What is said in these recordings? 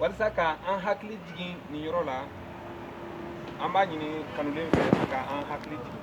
walasa ka an hakili jigin nin yɔrɔ la an b'a ɲini kanulen fɛ a ka an hakili jigin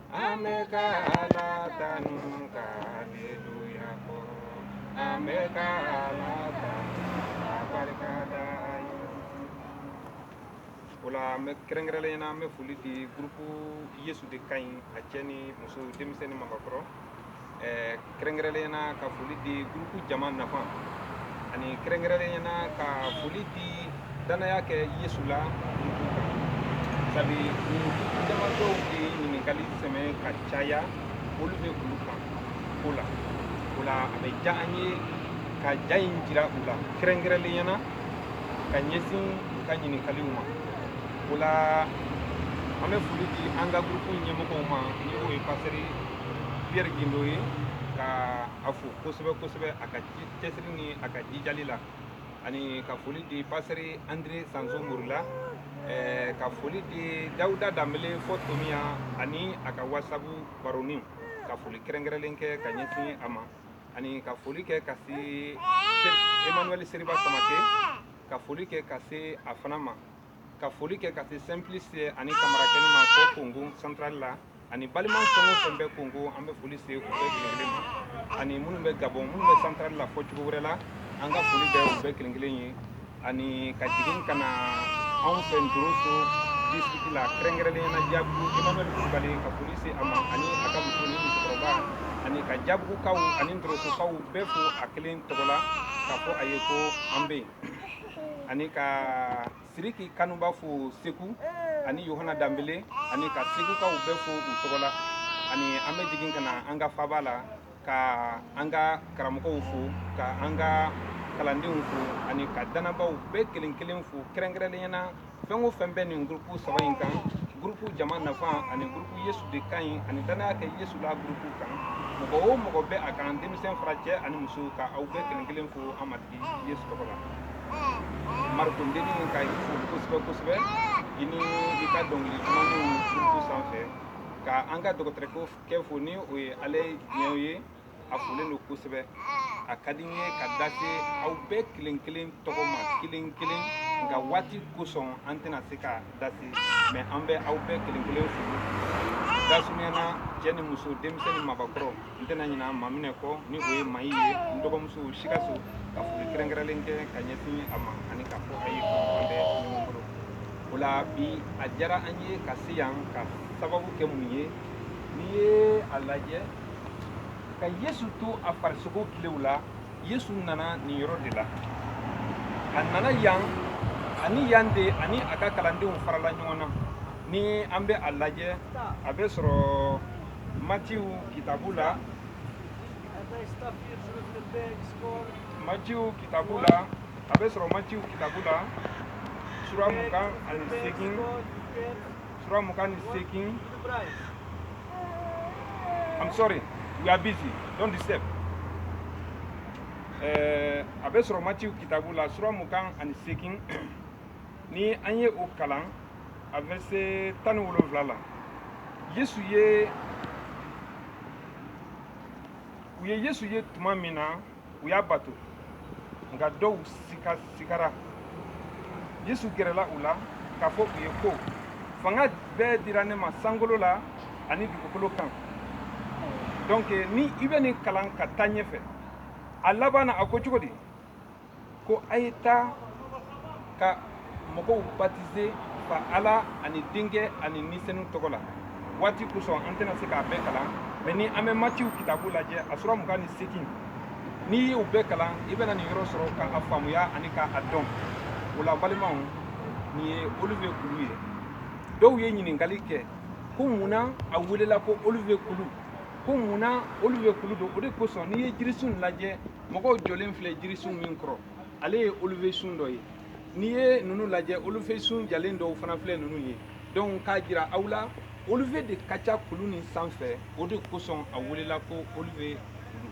an bɛ ka Ala tanu ka aleluya fɔ, an bɛ ka Ala tanu ka barika da a ye. O la an bɛ kɛrɛnkɛrɛnnenya la an bɛ foli di groupe Yesu de ka ɲi a cɛ ni muso denmisɛn ni maakɔrɔ eh, kɛrɛnkɛrɛnnenya na ka foli di gurupu jama nafa ani kɛrɛnkɛrɛnnenya na ka foli di dannaya kɛ yesu la sabu jama dɔw bɛ ɲininkali sɛbɛn ka caya olu bɛ olu kan ko la o la a bɛ diya an ye ka ja in jira u la kɛrɛnkɛrɛnnenya na ka ɲɛsin u ka ɲininkaliw ma o la an bɛ foli di an ka gurupu ɲɛmɔgɔw ma ni o ye pasɛri Pierre Guindo ye ka a fo kosɛbɛ kosɛbɛ a ka cɛsiri ni a ka jijali la ani ka foli di pasɛri Andre Sanso Morila eh, ka foli di Dawuda Danbele fɔ Tominian ani a ka wasabu baroninw ka foli kɛrɛnkɛrɛnlen kɛ ka ɲɛsin a ma ani ka foli kɛ ka se Emmanuel Seriba Samake ka foli kɛ ka se a fana ma ka foli kɛ ka se simplice ani kamara kɛ ma ko kongo santurali la ani balima fɛn o fɛn bɛ kongo an bɛ foli se u bɛɛ ani minnu bɛ gabɔn minnu bɛ santurali la fɔ cogo wɛrɛ la an ka foli bɛ u bɛɛ kelen kelen ye ani ka jigin ka na anw fɛ ntoroso disitiriki la kɛrɛnkɛrɛnlenya jabugu jamana kulubali ka foli se a ma ani a ka muso ni musokɔrɔba ani ka jabugukaw ani ntorosokaw bɛɛ fo a kelen tɔgɔ la ka fɔ a ye ko an bɛ yen ani ka siriki kanuba fo segu ani yohana danbele ani ka segukaw bɛɛ fo u tɔgɔ la ani an bɛ jigin ka na an ka faba la ka an ka karamɔgɔw fo ka an ka kalandenw fo ani ka dannabaaw bɛɛ kelen kelen fo kɛrɛnkɛrɛnnenya na fɛn o fɛn bɛ nin gurupu saba in kan gurupu jama nafa ani gurupu yesu de ka ɲi ani dannaya kɛ yesu la gurupu kan mɔgɔ o mɔgɔ bɛ a kan denmisɛn fara cɛ ani muso ka aw bɛɛ kelen kelen fo an matigi yesu tɔgɔ la mariko dennin ka i fo kosɛbɛ kosɛbɛ i ni i ka dɔnkili dumanniw gurupu sanfɛ ka an ka dɔgɔtɔrɔkɛ fo ni o ye ale diɲɛw ye a folen don kosɛbɛ a ka di n ye ka da se aw bɛɛ kelen kelen tɔgɔ ma kelen kelen nka waati kosɔn an tɛna se ka da se mɛ an bɛ aw bɛɛ kelen kelen fo dasunyana cɛ ni muso denmisɛn ni mabakɔrɔ n tɛna ɲina maa min kɔ ni o ye mayi ye n dɔgɔmuso sikaso ka foli kɛrɛnkɛrɛnlen kɛ ka ɲɛsin a ma ani k'a fɔ a ye ko an bɛ ɲɔgɔn bolo o la bi a diyara an ye ka se yan ka sababu kɛ mun ye n'i ye a lajɛ ka yesu to a farisogo tilew la yesu nana nin yɔrɔ de la a nana yan ani yan de ani a ka kalandenw farala ɲɔgɔn na ni an bɛ a lajɛ a bɛ sɔrɔ matiw kitabu la matiw kitabu la a bɛ sɔrɔ matiw kitabu la sura mugan ani seegin Sura mugan ni seegin I'm sorry we are busy don't disturb eh, a bɛ sɔrɔ matiw kitabu la sura mugan ani seegin ni an ye o kalan a verset tan ni wolonwula la yesu ye u ye yesu ye tuma min na u y'a bato nka dɔw sigasigara yesu gɛrɛla u la k'a fɔ u ye ko fanga bɛɛ dira ne ma sankolo la ani dugukolo kan donc ni i bɛ nin kalan ka taa ɲɛfɛ a laban na a ko cogo di ko a ye taa ka mɔgɔw batize fa ala ani denkɛ ani ni senu tɔgɔ la waati kosɔn an tɛna se k'a bɛɛ kalan mɛ ni an bɛ matiw kitabu lajɛ a sura mugan ni seegin n'i y'u bɛɛ kalan i bɛna nin yɔrɔ sɔrɔ ka a faamuya ani ka a dɔn o la balimaw nin ye olivier kulu ye dɔw ye ɲininkali kɛ ko mun na a welela ko olivier kulu ko mun na olivier kulu don o de kosɔn n'i ye jirisun lajɛ mɔgɔw jɔlen filɛ jirisun min kɔrɔ ale ye olivier sun dɔ ye n'i ye ninnu lajɛ olivier sun jalen dɔw fana filɛ ninnu ye donc k'a jira aw la olivier de ka ca kulu nin sanfɛ o de kosɔn a welela ko olivier kulu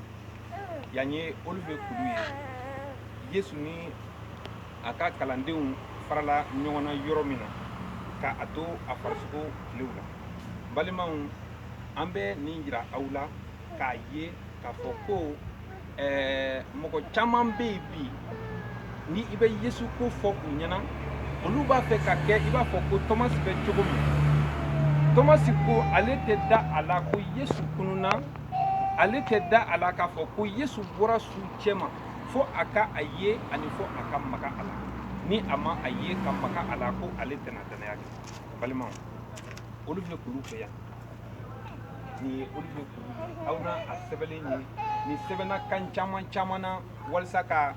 yan ye olivier kulu ye yesu ni a ka kalandenw farala ɲɔgɔn na yɔrɔ min na ka a to a farisogo tilew la balimaw an bɛ nin jira aw la k'a ye k'a fɔ ko ɛɛ mɔgɔ caman bɛ yen bi ni i bɛ yesu ko fɔ u ɲɛ na olu b'a fɛ ka kɛ i b'a fɔ ko tɔmasi bɛ cogo min tɔmasi ko ale tɛ da a la ko yesu kununna ale tɛ da a la k'a fɔ ko yesu bɔra suw cɛma fo a ka a ye ani fo a ka maga a la ni a ma a ye ka maga a la ko ale tɛna dannaya kɛ balimaw olivier kulu fɛ yan ye aw na a sɛbɛnnen ye nin sɛbɛnna kan caman caman na walasa ka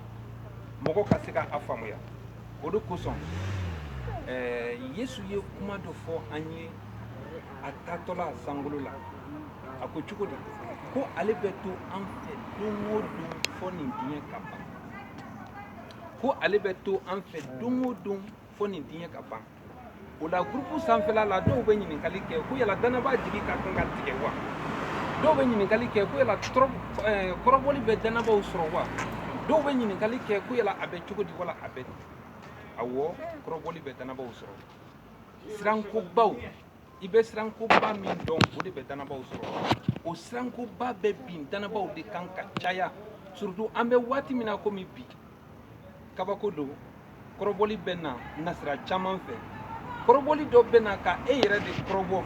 mɔgɔ ka se k'a faamuya o de kosɔn yesu ye kuma dɔ fɔ an ye a taatɔla sankolo la a ko cogo di ko ale bɛ to an fɛ don o don fɔ nin diɲɛ ka ban ko ale bɛ to an fɛ don o don fɔ nin diɲɛ ka ban o la gurupu sanfɛla la dɔw bɛ ɲininkali kɛ ko yala dannabaa jigi ka kan ka tigɛ wa dɔw bɛ ɲininkali kɛ ko yala kɔrɔbɔli bɛ dannabaaw sɔrɔ wa dɔw bɛ ɲininkali kɛ ko yala a bɛ cogo di wala a bɛ di awɔ kɔrɔbɔli bɛ dannabaaw sɔrɔ sirankobaw i bɛ sirankoba min dɔn o de bɛ dannabaaw sɔrɔ o sirankoba bɛ bin dannabaaw de kan ka caya surtout an bɛ waati min na komi bi kabako don kɔrɔbɔli bɛ na nasira caman fɛ kɔrɔbɔli dɔ bɛ na ka e yɛrɛ de kɔrɔbɔ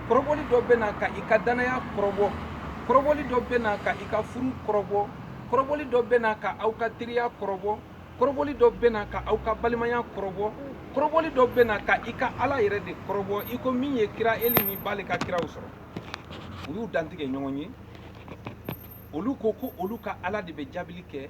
kɔrɔbɔli dɔ bɛ na ka i ka dannaya kɔrɔbɔ kɔrɔbɔli dɔ bɛ na ka i ka furu kɔrɔbɔ kɔrɔbɔli dɔ bɛ na ka aw ka teriya kɔrɔbɔ kɔrɔbɔli dɔ bɛ na ka aw ka balimaya kɔrɔbɔ kɔrɔbɔli dɔ bɛ na ka i ka ala yɛrɛ de kɔrɔbɔ i ko min ye kira eli ni baali ka kiraw sɔrɔ u y'u dantigɛ ɲɔgɔn ye olu ko ko olu ka ala de bɛ jaabili kɛ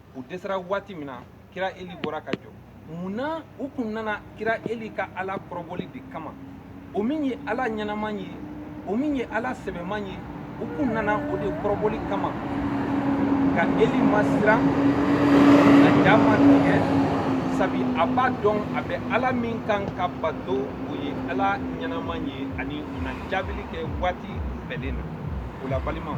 u dɛsɛra waati min na kira eli bɔra ka jɔ mun na u kun nana kira eli ka ala kɔrɔbɔli de kama o min ye ala ɲɛnaman ye o min ye ala sɛbɛman ye u kun nana o de kɔrɔbɔli kama nka eli ma siran a ja ma tigɛ sabi a b'a dɔn a bɛ ala min kan ka bato o ye ala ɲɛnaman ye ani o na jaabili kɛ waati bɛnnen na o la balimaw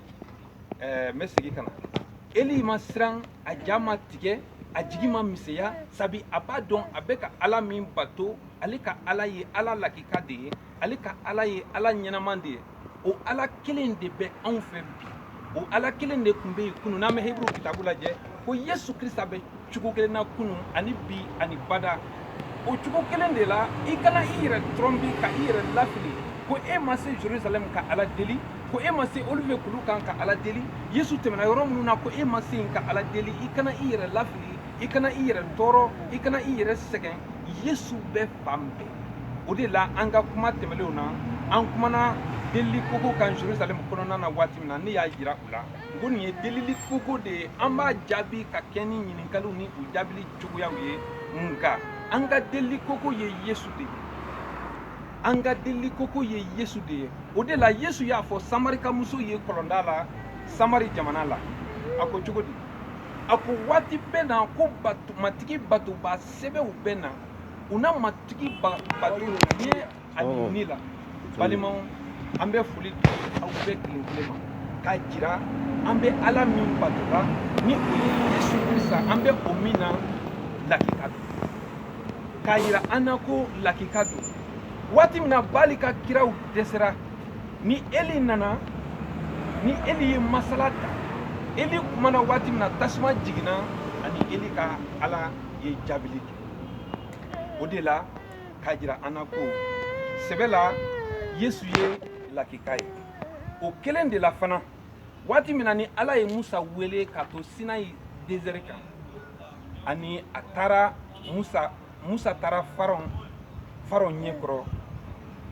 ɛɛ n bɛ segin ka na eli ma siran a ja ma tigɛ a jigi ma misɛnya sabi a b'a dɔn a bɛ ka ala min bato ale ka ala ye ala lakika de ye ale ka ala ye ala ɲɛnaman de ye o ala kelen de bɛ anw fɛ bi o ala kelen de tun bɛ yen kunun n'an bɛ heburu kitabu lajɛ ko yesu krista bɛ cogo kelen na kunu ani bi ani bada o cogo kelen de la i kana i yɛrɛ tromper ka i yɛrɛ lafili ko e ma se jerusalɛm ka ala deli ko e ma se oliviye kulu kan ka ala deli yesu tɛmɛna yɔrɔ minnu na ko e ma se yen ka ala deli i kana i yɛrɛ lafili i kana i yɛrɛ tɔɔrɔ i kana i yɛrɛ sɛgɛn yesu bɛ fan bɛɛ o de la an ka kuma tɛmɛlenw na an kumana delili koko kan jerusalɛm kɔnɔna na waati min na ne y'a jira u la ko nin ye delili koko de ye an b'a jaabi ka kɛ ni ɲininkaliw ni u jaabili cogoyaw ye nka an ka delili koko ye yesu de ye an ka delili koko ye yesu de ye o de la yesu y'a fɔ samarikamuso ye kɔlɔnda la samari jamana la a ko cogo di a ko waati bɛ na ko matigi batobaa sɛbɛw bɛ na u na matigi bato ye ani ne la balimaw an bɛ foli di aw bɛɛ kelen kelen ma k'a jira an bɛ ala min batola ni o ye yesu krista an bɛ o min na lakika don k'a jira an na ko lakika don waati min na bali ka kiraw dɛsɛra ni eli nana ni eli ye masala ta eli kumana waati min na tasuma jiginna ani eli ka ala ye jaabili kɛ o de la k'a jira an na ko sɛbɛ la yesu ye lakika ye o kelen de la fana waati min na ni ala ye musa wele k'a to sinayi dezɛri kan ani a taara musa musa taara faraon faraon ɲɛ kɔrɔ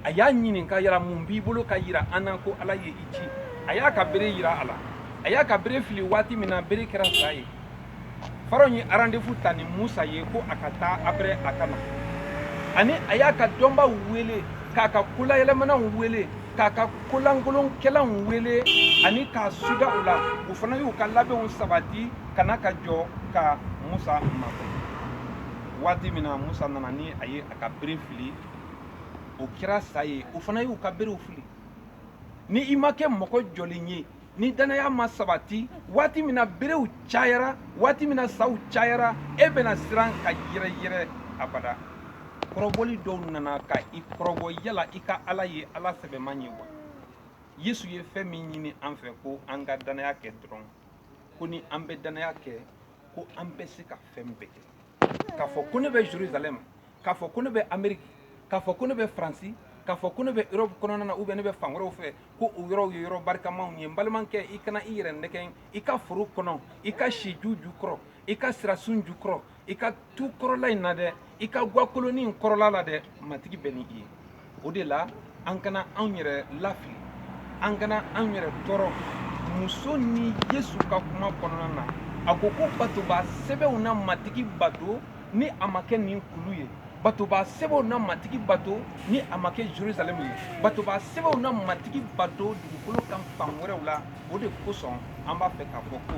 a y'a ɲininka yala mun b'i bolo k'a yira an na ko ala ye i ci a y'a ka bere yira a la a y'a ka bere fili waati min na bere kɛra sa ye faraon ye arandevu ta ni musa ye ko a ka taa après a ka na ani a y'a ka dɔnbaw wele k'a ka kolayɛlɛmanaw wele k'a ka kolankolonkɛlaw wele ani k'a suda u la u fana y'u ka labɛnw sabati ka na ka jɔ ka musa makɔnɔ waati min na musa nana ni a ye a ka bere fili o kɛra sa ye u fana y'u ka berew fili ni i ma kɛ mɔgɔ jɔlen ye ni danaya ma sabati waati min na berew cayara waati min na saw cayara e bɛna siran ka yɛrɛyɛrɛ abada kɔrɔbɔli dɔw nana ka i kɔrɔbɔ yala i ka ala ye ala sɛbɛman ye wa yesu ye fɛn min ɲini an fɛ ko an ka danaya kɛ dɔrɔn ko ni an bɛ danaya kɛ ko an bɛ se ka fɛn bɛɛ kɛ k'a fɔ ko ne bɛ jerusalɛm k'a fɔ ko ne bɛ ameriki k'a fɔ ko ne bɛ faransi k'a fɔ ko ne bɛ europe kɔnɔna na ou bien ne bɛ fan wɛrɛw fɛ ko o yɔrɔw ye yɔrɔ barikamaw ye n balimakɛ i kana i yɛrɛ nɛgɛn i ka foro kɔnɔ i ka siju jukɔrɔ i ka sirasun jukɔrɔ i ka tu kɔrɔla in na dɛ i ka gakolonin kɔrɔla la dɛ matigi bɛ ni i ye o de la an kana anw yɛrɛ lafili an kana anw yɛrɛ tɔɔrɔ muso ni yesu ka kuma kɔnɔna na a ko ko batoba sɛbɛw na matigi bato ni a ma kɛ nin kulu ye batoba sɛbɛw na matigi bato ni a ma kɛ jerusalɛm ye batoba sɛbɛw na matigi bato dugukolo kan fan wɛrɛw la o de kosɔn an b'a fɛ k'a fɔ ko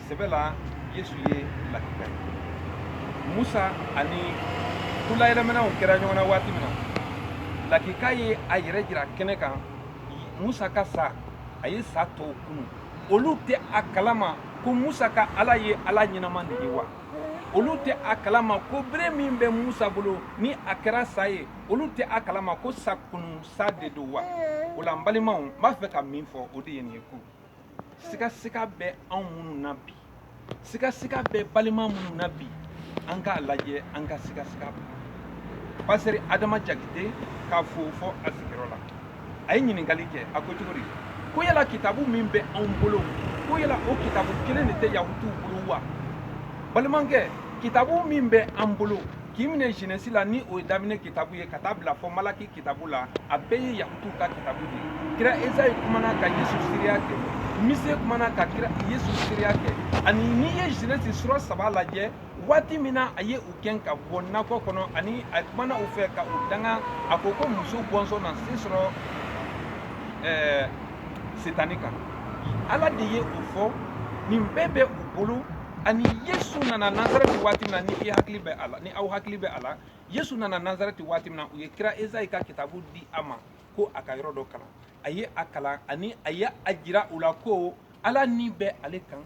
sɛbɛ la yesu ye lakika ye musa ani kolayɛlɛmanaw kɛra ɲɔgɔn na waati min na lakika ye a yɛrɛ jira kɛnɛ kan musa ka sa a ye sa tɔw kunu olu tɛ a kalama ko musa ka ala ye ala ɲɛnama de ye wa olu tɛ a kalama ko bere min bɛ musa bolo ni a kɛra sa ye olu tɛ a kalama ko sa kunu sa de don wa o la n balimaw n b'a fɛ ka min fɔ o de ye nin ye ko sigasiga bɛ anw minnu na bi sigasiga bɛ balima minnu na bi an k'a lajɛ an ka sigasiga bila pasitɛri adama jakite k'a fo fɔ a sigiyɔrɔ la a ye ɲininkali kɛ a ko cogo di ko yala kitabu min bɛ anw bolo ko yala o kitabu kelen de tɛ yahutuw bolo wa balimakɛ kitabu min bɛ an bolo k'i minɛ jenɛsi la ni o ye daminɛ kitabu ye ka taa bila fɔ malaki kitabu la a bɛɛ ye yahutuw ka kitabu de ye kira esayi kumana ka yesu seereya kɛ mise kumana ka kira yesu seereya kɛ ani n'i ye jenɛsi sura saba lajɛ waati min na a ye u gɛn ka bɔ nakɔ kɔnɔ ani a kumana u fɛ ka u danga a ko ko muso bɔnsɔn na se sɔrɔ ɛɛ setani kan ala de ye o fɔ nin bɛɛ bɛ u bolo ani yesu nana nazareti waati min na ni i hakili bɛ a la ni aw hakili bɛ a la yesu nana nazareti waati min na u ye kira ezayi ka kitabu di a ma ko a ka yɔrɔ dɔ kalan a ye a kalan ani a ye a jira u la ko ala ni bɛ ale kan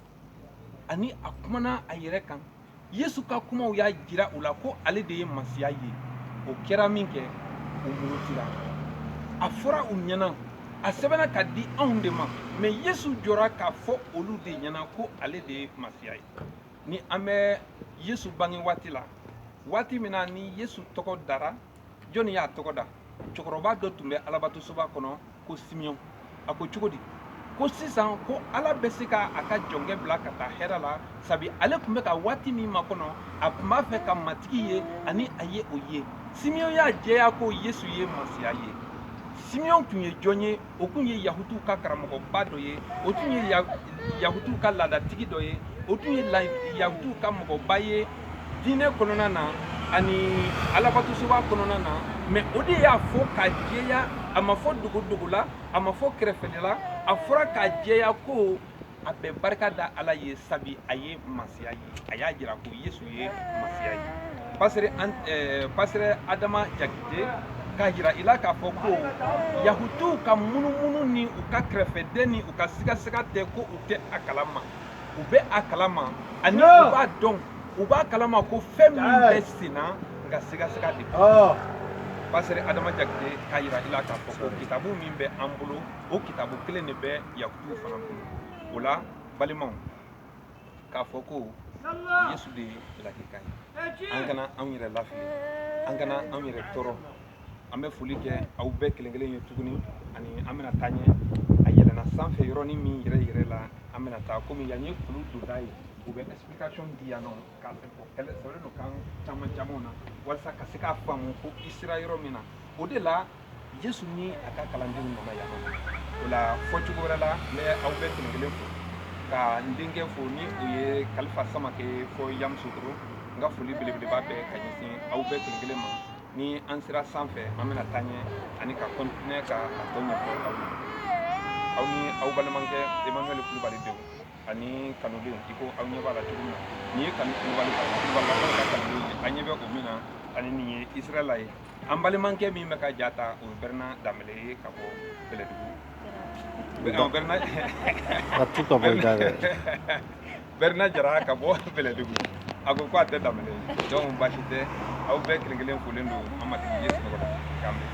ani a kumana a yɛrɛ kan yesu ka kumaw y'a jira u la ko ale de ye masiya ye o kɛra minkɛ u murutira a fɔra u ɲɛna a sɛbɛnna ka di anw de ma mɛ yesu jɔra k'a fɔ olu de ɲɛna ko ale de ye masiya ye ni an bɛ yesu bange waati la waati min na ni yesu tɔgɔ dara jɔnni y'a tɔgɔ da cɛkɔrɔba dɔ tun bɛ alabatosoba kɔnɔ ko simeyɔn a ko cogo di ko sisan ko ala bɛ se ka a ka jɔnkɛ bila ka taa hɛrɛ la sabi ale tun bɛ ka waati min makɔnɔ a tun b'a fɛ ka matigi ye ani a ye o ye simeyɔn y'a jɛya ko yesu ye masiya ye simeyɔn tun ye jɔn ye o tun ye yahutuw ka karamɔgɔba dɔ ye o tun ye yahutuw ka laadatigi dɔ ye o tun ye yahutuw ka mɔgɔba ye diinɛ kɔnɔna na ani alabatosoba kɔnɔna na mɛ o de y'a fɔ ka jɛya a ma fɔ dogodogo la a ma fɔ kɛrɛfɛla a fɔra ka jɛya ko a bɛ barika da ala ye sabi a ye masiya ye a y'a jira ko yesu ye masiya ye pasitɛri an eh, pasitɛri adama jakite k'a jira i la k'a fɔ ko yahutuw ka munumunu ni u ka kɛrɛfɛden ni u ka sigasiga tɛ ko u tɛ a kalama u bɛ a kalama ani u b'a dɔn u b'a kalama ko fɛn min bɛ sen na nka sigasiga de bɛ pasitɛri adama jakite k'a jira i la k'a fɔ ko kitabu min bɛ an bolo o kitabu kelen de bɛ yahutuw fana kun o la balimaw k'a fɔ ko yesu de ye lakika ye an kana anw yɛrɛ lafili an kana anw yɛrɛ tɔɔrɔ an bɛ foli kɛ aw bɛɛ kelen kelen ye tuguni ani an bɛna taa ɲɛ a yɛlɛnna sanfɛ yɔrɔnin min yɛrɛ yɛrɛ la an bɛna taa komi yan ye kulu donda ye u bɛ explication di yan nɔ K'a fɛ ko kɛlɛ sɔrɔ don kan caman caman na walasa ka se k'a faamu ko i sera yɔrɔ min na o de la yesu ni a ka kalandenw nana yan o la fɔ cogo wɛrɛ la n bɛ aw bɛɛ kelen kelen fo ka n denkɛ fo ni o ye kalifa samake ye fɔ yamusokoro n ka foli belebeleba bɛɛ ka ɲɛsin aw bɛɛ kelen kelen ma ni an sera sanfɛ an bɛna taa ɲɛ ani ka kɔntinɛ ka a tɔ ɲɛfɔ aw ye aw ni aw balimakɛ emmanuel kulubali denw ani kanudenw i ko aw ɲɛ b'a la cogo min na nin ye kanu kulubali ka kulubali ka ka kanudenw ye an ɲɛ bɛ o min na ani nin ye israɛla ye an balimakɛ min bɛ ka ja ta o ye bɛrɛna danbɛlɛ ye ka bɔ bɛlɛdugu Ɔ, bɛrɛna A tu ka bɔ i da dɛ. bɛrɛna jara ka bɔ bɛlɛdugu a ko ko a tɛ danbɛlɛ ye donc baasi tɛ aw bɛɛ kelen kelen folen don an matigi yesu tɔgɔ la k'an bɛn